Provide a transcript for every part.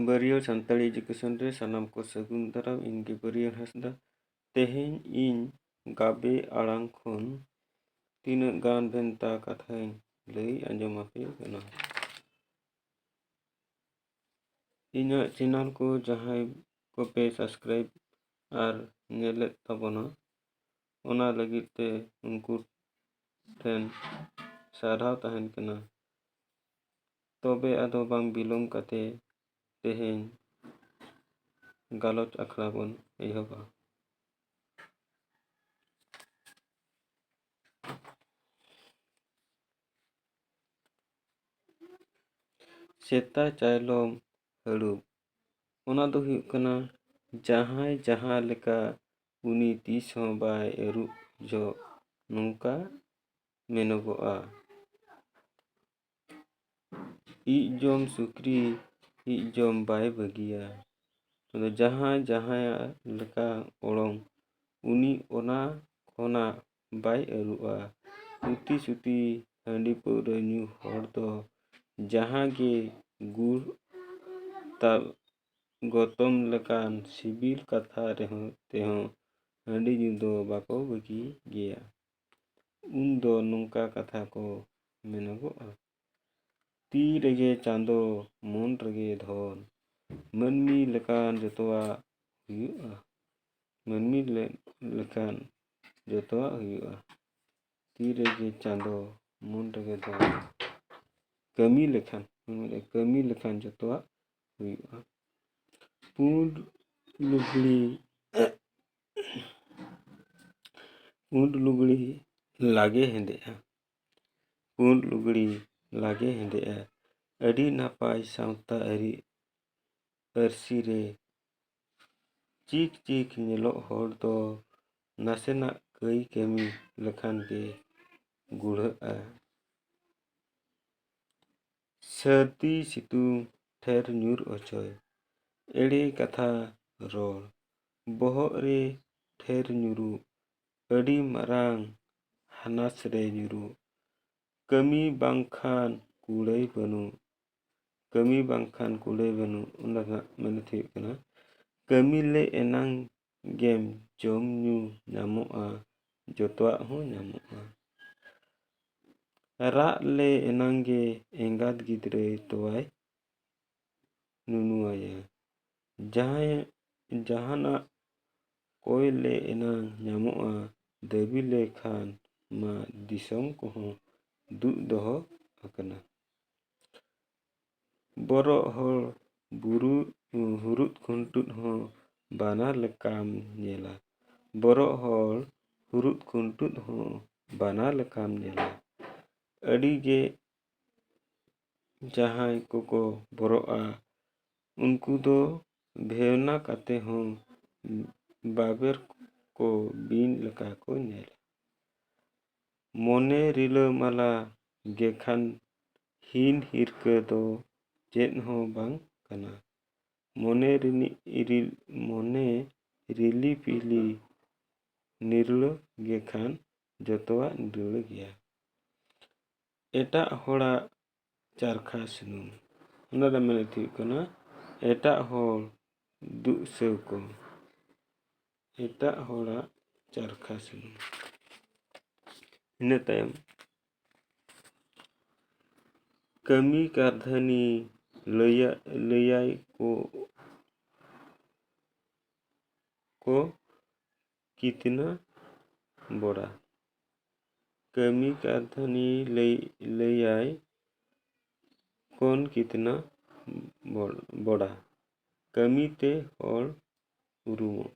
ᱵᱟᱹᱨᱭᱟᱹ Santali education ᱨᱮ ᱥᱟᱱᱟᱢ ᱠᱚ ᱥᱟᱹᱜᱩᱱ ᱫᱟᱨᱟᱢ ᱤᱧ ᱜᱮ ᱵᱟᱹᱨᱭᱟᱹ ᱦᱟᱸᱥᱫᱟ ᱛᱮᱦᱮᱧ ᱤᱧ ᱜᱟᱵᱮ ᱟᱲᱟᱝ ᱠᱷᱚᱱ ᱛᱤᱱᱟᱹᱜ ᱜᱟᱱ ᱵᱷᱮᱱᱛᱟ ᱠᱟᱛᱷᱟᱧ ᱞᱟᱹᱭ ᱟᱸᱡᱚᱢ ᱟᱯᱮ ᱠᱟᱱᱟ ᱤᱧᱟᱹᱜ ᱪᱮᱱᱮᱞ ᱠᱚ ᱡᱟᱦᱟᱸᱭ ᱠᱚᱯᱮ ᱥᱟᱵᱥᱠᱨᱟᱭᱤᱵᱽ ᱟᱨ ᱧᱮᱞᱮᱫ ᱛᱟᱵᱚᱱᱟ ᱚᱱᱟ ᱞᱟᱹᱜᱤᱫ ᱛᱮ ᱩᱱᱠᱩ ᱴᱷᱮᱱ ᱥᱟᱨᱦᱟᱣ ᱛᱟᱦᱮᱱ ᱠᱟᱱᱟ ᱛᱚᱵᱮ ᱟᱫᱚ ᱵᱟᱝ ᱵᱤᱞᱚᱢ ᱠᱟᱛᱮ ᱛᱮᱦᱮᱧ ᱜᱟᱞᱚᱪ ᱟᱠᱷᱲᱟ ᱵᱚᱱ ᱮᱦᱚᱵᱟ ᱥᱮᱛᱟ ᱪᱟᱭᱞᱚᱢ ᱦᱟᱹᱲᱩᱵ ᱚᱱᱟ ᱫᱚ ᱦᱩᱭᱩᱜ ᱠᱟᱱᱟ ᱡᱟᱦᱟᱸᱭ ᱡᱟᱦᱟᱸ ᱞᱮᱠᱟ ᱩᱱᱤ ᱛᱤᱥ ᱦᱚᱸ ᱵᱟᱭ ᱟᱹᱨᱩᱵ ᱡᱚᱜ ᱱᱚᱝᱠᱟ ᱢᱮᱱᱚᱜᱚᱜᱼᱟ ᱤᱡ ᱡᱚᱢ ᱥᱩᱠᱨᱤ ᱤᱡ ᱡᱚᱢ ᱵᱟᱭ ᱵᱟᱹᱜᱤᱭᱟ ᱟᱫᱚ ᱡᱟᱦᱟᱸᱭ ᱡᱟᱦᱟᱸᱭᱟᱜ ᱞᱮᱠᱟ ᱚᱲᱚᱝ ᱩᱱᱤ ᱚᱱᱟ ᱠᱷᱚᱱᱟᱜ ᱵᱟᱭ ᱟᱹᱨᱩᱜᱼᱟ ᱩᱛᱤ ᱥᱩᱛᱤ ᱦᱟᱺᱰᱤ ᱯᱟᱹᱣᱨᱟᱹ ᱧᱩ ᱦᱚᱲ ᱫᱚ ᱡᱟᱦᱟᱸ ᱜᱮ ᱜᱩᱲ ᱛᱟᱵ ᱜᱚᱛᱚᱢ ᱞᱮᱠᱟᱱ ᱥᱤᱵᱤᱞ ᱠᱟᱛᱷᱟ ᱨᱮᱦᱚᱸ ᱛᱮᱦᱚᱸ ᱦᱟᱺᱰᱤ ᱧᱩ ᱫᱚ ᱵᱟᱠᱚ ᱵᱟᱹᱜᱤ ᱜᱮᱭᱟ ᱩᱱ ᱫᱚ ᱱᱚᱝᱠᱟ ᱠᱟᱛᱷᱟ ᱠᱚ ᱢᱮᱱᱚᱜᱚᱜᱼᱟ ᱛᱤ ᱨᱮᱜᱮ ᱪᱟᱸᱫᱚ ᱢᱚᱱ ᱨᱮᱜᱮ ᱫᱷᱚᱱ ᱢᱟᱹᱱᱢᱤ ᱞᱮᱠᱟᱱ ᱡᱚᱛᱚᱣᱟᱜ ᱦᱩᱭᱩᱜᱼᱟ ᱢᱟᱹᱱᱢᱤ ᱞᱮᱠᱟᱱ ᱡᱚᱛᱚᱣᱟᱜ ᱦᱩᱭᱩᱜᱼᱟ ᱛᱤ ᱨᱮᱜᱮ ᱪᱟᱸᱫᱚ ᱢᱚᱱ ᱨᱮᱜᱮ ᱫᱷᱚᱱ ᱠᱟᱹᱢᱤ ᱞᱮᱠᱷᱟᱱ ᱠᱟᱹᱢᱤ ᱞᱮᱠᱷᱟᱱ ᱡᱚᱛᱚᱣᱟᱜ ᱦᱩᱭᱩᱜᱼᱟ ᱯᱩᱸᱰ ᱞᱩᱜᱽᱲᱤ ᱯᱩᱸᱰ ᱞᱩᱜᱽᱲᱤ ᱞᱟᱜᱮ ᱦᱮᱸᱫᱮᱜᱼᱟ ᱯᱩᱸᱰ ᱞᱩᱜᱽᱲᱤ ᱞᱟᱜᱮ ᱦᱮᱸᱫᱮᱜᱼᱟ ᱟᱹᱰᱤ ᱱᱟᱯᱟᱭ ᱥᱟᱶᱛᱟ ᱟᱹᱨᱤ ᱯᱟᱹᱨᱥᱤ ᱨᱮ ᱪᱤᱠ ᱪᱤᱠ ᱧᱮᱞᱚᱜ ᱦᱚᱲ ᱫᱚ ᱱᱟᱥᱮᱱᱟᱜ ᱠᱟᱹᱭ ᱠᱟᱹᱢᱤ ᱞᱮᱠᱷᱟᱱ ᱜᱮ ᱜᱩᱲᱦᱟᱹᱜᱼᱟ ᱥᱟᱹᱨᱫᱤ ᱥᱤᱛᱩᱝ ᱴᱷᱮᱨ ᱧᱩᱨ ᱚᱪᱚᱭ ᱮᱲᱮ ᱠᱟᱛᱷᱟ ᱨᱚᱲ ᱵᱚᱦᱚᱜ ᱨᱮ ᱴᱷᱮᱨ ᱧᱩᱨᱩᱜ ᱟᱹᱰᱤ ᱢᱟᱨᱟᱝ ᱦᱟᱱᱟᱥ ᱨᱮ ᱧᱩᱨᱩᱜ ᱠᱟᱹᱢᱤ ᱵᱟᱝᱠᱷᱟᱱ ᱠᱩᱲᱟᱹᱭ ᱵᱟᱹᱱᱩᱜ ᱠᱟᱹᱢᱤ ᱵᱟᱝᱠᱷᱟᱱ ᱠᱩᱲᱟᱹᱭ ᱵᱟᱹᱱᱩᱜ ᱚᱱᱟ ᱨᱮᱱᱟᱜ ᱢᱮᱱᱮᱛ ᱦᱩᱭᱩᱜ ᱠᱟᱱᱟ ᱠᱟᱹᱢᱤ ᱞᱮ ᱮᱱᱟᱝ ᱜᱮᱢ ᱡᱚᱢ ᱧᱩ ᱧᱟᱢᱚᱜᱼᱟ ᱡᱚᱛᱚᱣᱟᱜ ᱦᱚᱸ ᱧᱟᱢᱚᱜᱼᱟ ᱨᱟᱜ ᱞᱮ ᱮᱱᱟᱝ ᱜᱮ ᱮᱸᱜᱟᱛ ᱜᱤᱫᱽᱨᱟᱹᱭ ᱛᱳᱣᱟᱭ ᱱᱩᱱᱩ ᱟᱭᱟ ᱡᱟᱦᱟᱸᱭ ᱡᱟᱦᱟᱱᱟᱜ ᱠᱚᱭ ᱞᱮ ᱮᱱᱟᱝ ᱧᱟᱢᱚᱜᱼᱟ ᱫᱟᱹᱵᱤ ᱞᱮᱠᱷᱟᱱ ᱢᱟ ᱫᱤᱥᱚᱢ ᱠᱚᱦᱚᱸ ᱫᱩᱜ ᱫᱚᱦᱚ ᱟᱠᱟᱱᱟ ᱵᱚᱨᱚᱜ ᱦᱚᱲ ᱵᱩᱨᱩ ᱦᱩᱨᱩᱫ ᱠᱷᱩᱱᱴᱩᱫ ᱦᱚᱸ ᱵᱟᱱᱟᱨ ᱞᱮᱠᱟᱢ ᱧᱮᱞᱟ ᱵᱚᱨᱚᱜ ᱦᱚᱲ ᱦᱩᱨᱩᱫ ᱠᱷᱩᱱᱴᱩᱫ ᱦᱚᱸ ᱵᱟᱱᱟᱨ ᱞᱮᱠᱟᱢ ᱧᱮᱞᱟ ᱟᱹᱰᱤ ᱜᱮ ᱡᱟᱦᱟᱸᱭ ᱠᱚᱠᱚ ᱵᱚᱨᱚᱜᱼᱟ ᱩᱱᱠᱩ ᱫᱚ ᱵᱷᱮᱣᱱᱟ ᱠᱟᱛᱮ ᱦᱚᱸ ᱵᱟᱵᱮᱨ ᱠᱚ ᱵᱤᱧ ᱞᱮᱠᱟ ᱠᱚ ᱧᱮᱞᱟ᱾ ᱢᱚᱱᱮ ᱨᱤᱞᱟᱹᱢᱟᱞᱟ ᱜᱮ ᱠᱷᱟᱱ ᱦᱤᱱ ᱦᱤᱨᱠᱟᱹ ᱫᱚ ᱪᱮᱫ ᱦᱚᱸ ᱵᱟᱝ ᱠᱟᱱᱟ᱾ ᱢᱚᱱᱮ ᱨᱤᱱᱤᱡ ᱤᱨᱤᱞ ᱢᱚᱱᱮ ᱨᱤᱞᱤ ᱯᱤᱞᱤ ᱱᱤᱨᱞᱟᱹ ᱜᱮ ᱠᱷᱟᱱ ᱡᱚᱛᱚᱣᱟᱜ ᱱᱤᱨᱟᱹᱲ ᱜᱮᱭᱟ᱾ ᱮᱴᱟᱜ ᱦᱚᱲᱟᱜ ᱪᱟᱨᱠᱷᱟ ᱥᱩᱱᱩᱢ ᱚᱱᱟ ᱨᱮᱭᱟᱜ ᱢᱮᱱᱮᱛ ᱦᱩᱭᱩᱜ ᱠᱟᱱᱟ ᱮᱴᱟᱜ ᱦᱚᱲ ᱫᱩᱜ ᱥᱮᱣ ᱠᱚ ᱮᱴᱟᱜ ᱦᱚᱲᱟᱜ ᱪᱟᱨᱠᱷᱟ ᱥᱩᱱᱩᱢ ᱤᱱᱟᱹ ᱛᱟᱭᱚᱢ ᱠᱟᱹᱢᱤ ᱠᱟᱹᱨᱫᱷᱟᱹᱱᱤ ᱞᱟᱹᱭᱟ ᱞᱟᱹᱭᱟᱭ ᱠᱚ ᱠᱚ ᱠᱤᱛᱱᱟ ᱵᱚᱲᱟ ᱠᱟᱹᱢᱤ ᱠᱟᱹᱨᱫᱷᱟᱹᱱᱤ ᱞᱟᱹᱭ ᱞᱟᱹᱭᱟᱭ ᱠᱳᱱ ᱠᱤᱛᱱᱟ ᱵᱚᱲ ᱵᱚᱲᱟ ᱠᱟᱹᱢᱤ ᱛᱮ ᱦᱚᱲ ᱩᱨᱩᱢᱚᱜ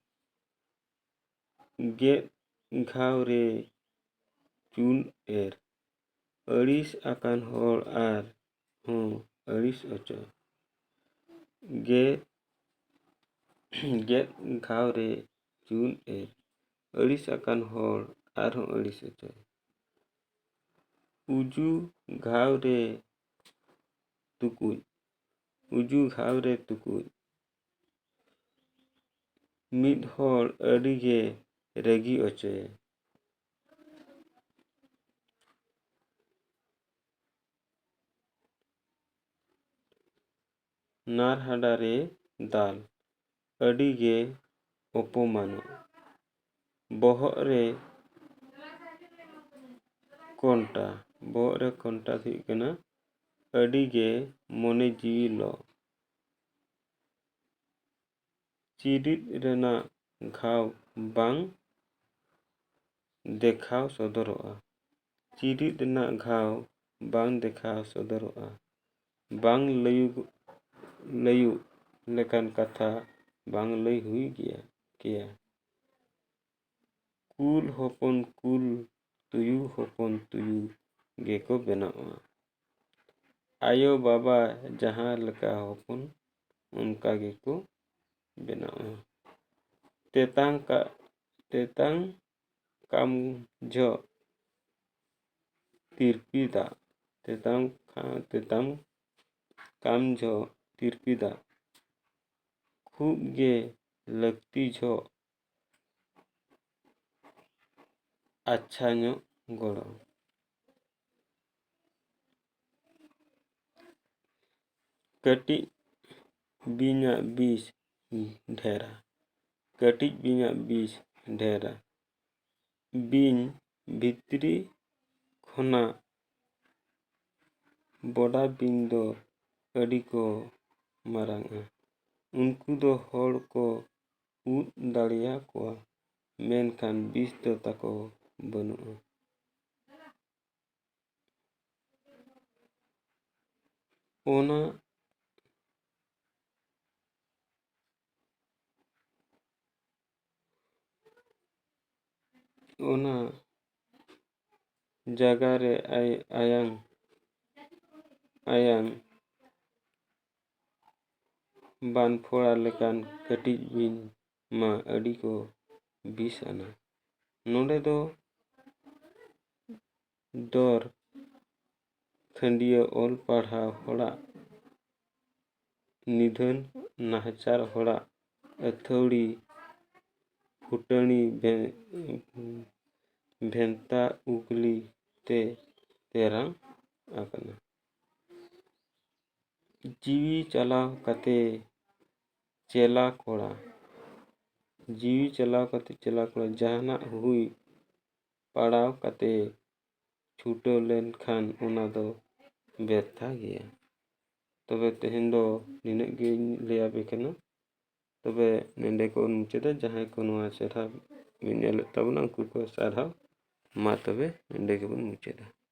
ᱜᱮᱫ ᱜᱷᱟᱣ ᱨᱮ ᱪᱩᱱ ᱮᱨ ᱟᱹᱲᱤᱥ ᱟᱠᱟᱱ ᱦᱚᱲ ᱟᱨ ᱦᱚᱸ ᱟᱹᱲᱤᱥ ᱚᱪᱚ ᱜᱮ ᱜᱮᱫ ᱜᱷᱟᱣ ᱨᱮ ᱪᱩᱱ ᱮ ᱟᱹᱲᱤᱥ ᱟᱠᱟᱱ ᱦᱚᱲ ᱟᱨᱦᱚᱸ ᱟᱹᱲᱤᱥ ᱚᱪᱚᱭ ᱩᱡᱩ ᱜᱷᱟᱣ ᱨᱮ ᱛᱩᱠᱩᱡ ᱩᱡᱩ ᱜᱷᱟᱣ ᱨᱮ ᱛᱩᱠᱩᱡ ᱢᱤᱫ ᱦᱚᱲ ᱟᱹᱰᱤ ᱜᱮ ᱨᱟᱹᱜᱤ ᱚᱪᱚᱭᱮ ᱱᱟᱨᱦᱟᱰᱟ ᱨᱮ ᱫᱟᱞ ᱟᱹᱰᱤ ᱜᱮ ᱚᱯᱚᱢᱟᱱᱚᱜ᱾ ᱵᱚᱦᱚᱜ ᱨᱮ ᱠᱚᱱᱴᱟ, ᱵᱚᱦᱚᱜ ᱨᱮ ᱠᱚᱱᱴᱟ ᱫᱚ ᱦᱩᱭᱩᱜ ᱠᱟᱱᱟ ᱟᱹᱰᱤ ᱜᱮ ᱢᱚᱱᱮ ᱡᱤᱣᱤ ᱞᱚᱜ᱾ ᱪᱤᱨᱤᱫ ᱨᱮᱱᱟᱜ ᱜᱷᱟᱣ ᱵᱟᱝ ᱫᱮᱠᱷᱟᱣ ᱥᱚᱫᱚᱨᱚᱜᱼᱟ᱾ ᱪᱤᱨᱤᱫ ᱨᱮᱱᱟᱜ ᱜᱷᱟᱣ ᱵᱟᱝ ᱫᱮᱠᱷᱟᱣ ᱥᱚᱫᱚᱨᱚᱜᱼᱟ᱾ ᱵᱟᱝ ᱞᱟᱹᱭᱩᱜ ᱞᱟᱹᱭᱩᱜ ᱞᱮᱠᱟᱱ ᱠᱟᱛᱷᱟ ᱵᱟᱝ ᱞᱟᱹᱭ ᱦᱩᱭ ᱜᱮᱭᱟ ᱠᱮᱭᱟ᱾ ᱠᱩᱞ ᱦᱚᱯᱚᱱ ᱠᱩᱞ ᱛᱩᱭᱩ ᱦᱚᱯᱚᱱ ᱛᱩᱭᱩ ᱜᱮᱠᱚ ᱵᱮᱱᱟᱜᱼᱟ ᱟᱭᱳ ᱵᱟᱵᱟ ᱡᱟᱦᱟᱸ ᱞᱮᱠᱟ ᱦᱚᱯᱚᱱ ᱚᱱᱠᱟ ᱜᱮᱠᱚ ᱵᱮᱱᱟᱜᱼᱟ ᱛᱮᱛᱟᱝ ᱠᱟᱜ ᱛᱮᱛᱟᱝ ᱠᱟᱢ ᱡᱷᱚᱜ ᱛᱤᱨᱯᱤ ᱫᱟᱜ ᱛᱮᱛᱟᱝ ᱛᱮᱛᱟᱝ ᱠᱟᱢ ᱡᱷᱚᱜ ᱛᱤᱨᱯᱤ ᱫᱟᱜ ᱠᱷᱩᱜ ᱜᱮ ᱞᱟᱹᱠᱛᱤ ᱡᱷᱚᱜ ᱟᱪᱪᱷᱟ ᱧᱚᱜ ᱜᱚᱲᱚ ᱠᱟᱹᱴᱤᱡ ᱵᱤᱧᱟᱜ ᱵᱤᱥ ᱰᱷᱮᱨᱟ ᱠᱟᱹᱴᱤᱡ ᱵᱤᱧᱟᱜ ᱵᱤᱥ ᱰᱷᱮᱨᱟ ᱵᱤᱧ ᱵᱷᱤᱛᱨᱤ ᱠᱷᱚᱱᱟᱜ ᱵᱚᱰᱟ ᱵᱤᱧ ᱫᱚ ᱟᱹᱰᱤ ᱠᱚ ᱢᱟᱨᱟᱝᱟ ᱩᱱᱠᱩ ᱫᱚ ᱦᱚᱲ ᱠᱚ ᱩᱫ ᱫᱟᱲᱮᱭᱟᱠᱚᱣᱟ ᱢᱮᱱᱠᱷᱟᱱ ᱵᱤᱥ ᱫᱚ ᱛᱟᱠᱚ ᱵᱟᱹᱱᱩᱜᱼᱟ ᱚᱱᱟ ᱚᱱᱟ ᱡᱟᱭᱜᱟ ᱨᱮ ᱟᱭ ᱟᱭᱟᱝ ᱟᱭᱟᱝ ᱵᱟᱱᱯᱷᱳᱲᱟ ᱞᱮᱠᱟᱱ ᱠᱟᱹᱴᱤᱡ ᱵᱤᱧ ᱢᱟ ᱟᱹᱰᱤ ᱠᱚ ᱵᱤᱥ ᱟᱱᱟ ᱱᱚᱰᱮ ᱫᱚ ᱫᱚᱨ ᱠᱷᱟᱹᱱᱰᱤᱭᱟᱹ ᱚᱞ ᱯᱟᱲᱦᱟᱣ ᱦᱚᱲᱟᱜ ᱱᱤᱫᱷᱟᱹᱱ ᱱᱟᱦᱟᱪᱟᱨ ᱦᱚᱲᱟᱜ ᱟᱹᱛᱷᱟᱹᱣᱲᱤ ᱯᱷᱩᱴᱟᱹᱱᱤ ᱵᱷᱮᱱᱛᱟ ᱩᱜᱽᱞᱤ ᱛᱮ ᱛᱮᱨᱟᱝ ᱟᱠᱟᱱᱟ ᱡᱤᱣᱤ ᱪᱟᱞᱟᱣ ᱠᱟᱛᱮᱫ ᱪᱮᱞᱟ ᱠᱚᱲᱟ ᱡᱤᱣᱤ ᱪᱟᱞᱟᱣ ᱠᱟᱛᱮᱫ ᱪᱮᱞᱟ ᱠᱚᱲᱟ ᱡᱟᱦᱟᱱᱟᱜ ᱦᱩᱭ ᱯᱟᱲᱟᱣ ᱠᱟᱛᱮᱫ ᱪᱷᱩᱴᱟᱹᱣ ᱞᱮᱱᱠᱷᱟᱱ ᱚᱱᱟ ᱫᱚ ᱵᱮᱨᱛᱷᱟ ᱜᱮᱭᱟ ᱛᱚᱵᱮ ᱛᱮᱦᱮᱧ ᱫᱚ ᱱᱤᱱᱟᱹᱜ ᱜᱤᱧ ᱞᱟᱹᱭ ᱟᱯᱮ ᱠᱟᱱᱟ ᱛᱚᱵᱮ ᱱᱚᱰᱮ ᱠᱚ ᱢᱩᱪᱟᱹᱫᱟ ᱡᱟᱦᱟᱸᱭ ᱠᱚ ᱱᱚᱣᱟ ᱪᱮᱦᱨᱟ ᱵᱤᱱ ᱧᱮᱞᱮᱫ ᱛᱟᱵᱚᱱᱟ ᱩᱱᱠᱩ ᱠᱚ ᱥᱟᱨᱦᱟᱣ ᱢᱟ ᱛᱚᱵᱮ ᱱᱚᱰᱮ ᱜᱮᱵᱚᱱ ᱢᱩᱪᱟᱹᱫᱟ